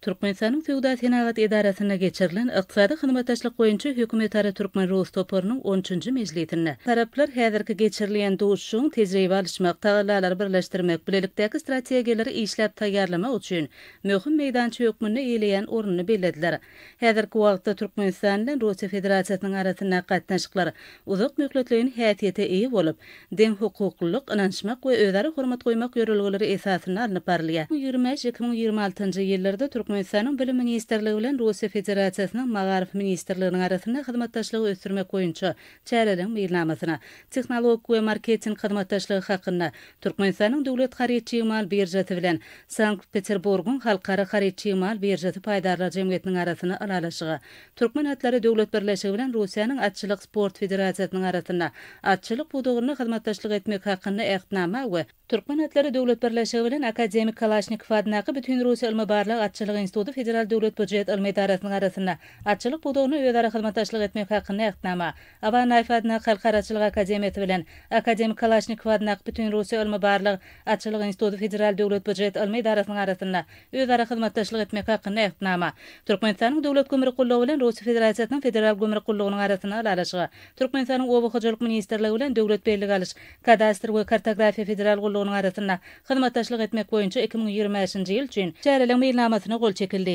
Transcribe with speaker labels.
Speaker 1: Türkmenistanyň Söwda-senagat edarasynda geçirilen Ykdysady hyzmatdaşlyk boýunça hökümetara türkmen-rus toparynyň on üçünji mejlisinde taraplar häzirki geçirilýän duşuşygyň tejribe alyşmak, tagallalary birleşdirmek, bilelikdäki strategiýalary işläp taýýarlamak üçin möhüm meýdança hökmünde eýeleýän ornuny bellediler. Häzirki wagtda Türkmenistan bilen Russiýa Federasiýasynyň arasyndaky gatnaşyklar uzak möhletleýin häsiýete eýe bolup, deňhukuklylyk, ynanyşmak we özara hormat goýmak ýörelgeleri esasynda alnyp barylýar. Iki müň ýigrimi bäş, iki müň ýigrimi altynjy ýyllarda Türkmenistanyň Bilim ministrligi bilen Russiýa Federasiýasynyň Magaryf ministrliginiň arasynda hyzmatdaşlygy ösdürmek boýunça Çäreleriň meýilnamasyna Tehnologik we marketing hyzmatdaşlygy hakynda Türkmenistanyň Döwlet haryt-çig mal biržasy bilen Sankt-Peterburgyň Halkara haryt-çig mal biržasy paýdarlar jemgyýetiniň arasynda ylalaşyga, Türkmen atlary döwlet birleşigi bilen Russiýanyň Atçylyk sport federasiýasynyň arasynda atçylyk pudagynda hyzmatdaşlyk etmek hakynda Ähtnama we Türkmen atlary döwlet birleşigi bilen Akademik Kalaşnikow adyndaky Bütinrussiýa ylmy-barlag atçylyk instituty Federal döwlet býujet ylmy edarasynyň arasynda atçylyk pudagynda özara hyzmatdaşlyk etmek hakynda Ähtnama, Aba Naýew adyndaky Halkara atçylyk akademiýasy bilen Akademik Kalaşnikow adyndaky Bütinrussiýa ylmy-barlag atçylyk instituty Federal döwlet býujet ylmy edarasynyň arasynda özara hyzmatdaşlyk etmek hakynda Ähtnama, Türkmenistanyň Döwlet gümrük gullugy bilen Russiýa Federasiýasynyň Federal gümrük gullugynyň arasynda ylalaşyga, Türkmenistanyň Oba hojalyk ministrligi bilen Döwlet bellige alyş Kadastr we kartografiýa federal gullugynyň arasynda hyzmatdaşlyk etmek boýunça iki müň ýigrimi bäşinji ýyl üçin Çäreleň meýilnamasyna gol çekildi.